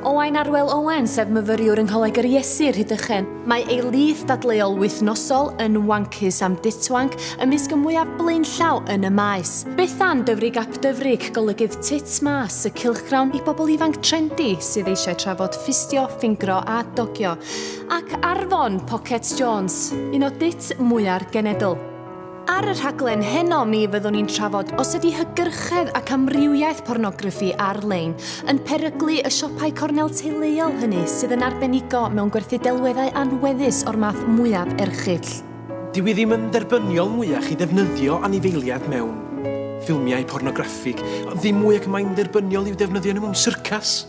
Owain Arwel Owen, sef myfyriwr yng Ngholeg yr Iesu, Rhydychen. Mae ei lith dadleuol wythnosol yn wancus am ditwanc ymysg y mwyaf blaenllaw yn y maes. Beth am Dyfrig Ap Dyfrig, golygydd Tits Mas, y cylchgrawn i bobl ifanc trendi sydd eisiau trafod ffistio, ffingro a dogio. Ac Arfon, Pockets Jones, un o dits mwya'r genedl. Ar y rhaglen heno mi fyddwn ni'n trafod os ydy hygyrchedd ac amrywiaeth pornograffi ar-lein yn peryglu y siopau cornel teuluol hynny sydd yn arbenigo mewn gwerthu delweddau anweddus o'r math mwyaf erchyll. Dyw hi ddim yn dderbyniol mwyach i ddefnyddio anifeiliaid mewn ffilmiau pornograffig, ddim mwy ac mae'n dderbyniol i'w defnyddio nhw mewn syrcas.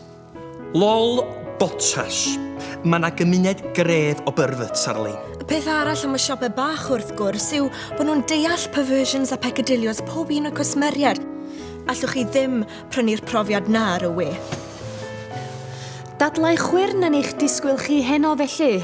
Lol Bottas. Mae 'na gymuned gref o perverts ar lein. Y peth arall am y siopau bach wrth gwrs yw bod nhw'n deall perversions a peccadillos pob un o'r cwsmeriaid. Allwch chi ddim prynu'r profiad 'na ar y we. Dadlau chwyrn yn eich disgwyl chi heno felly.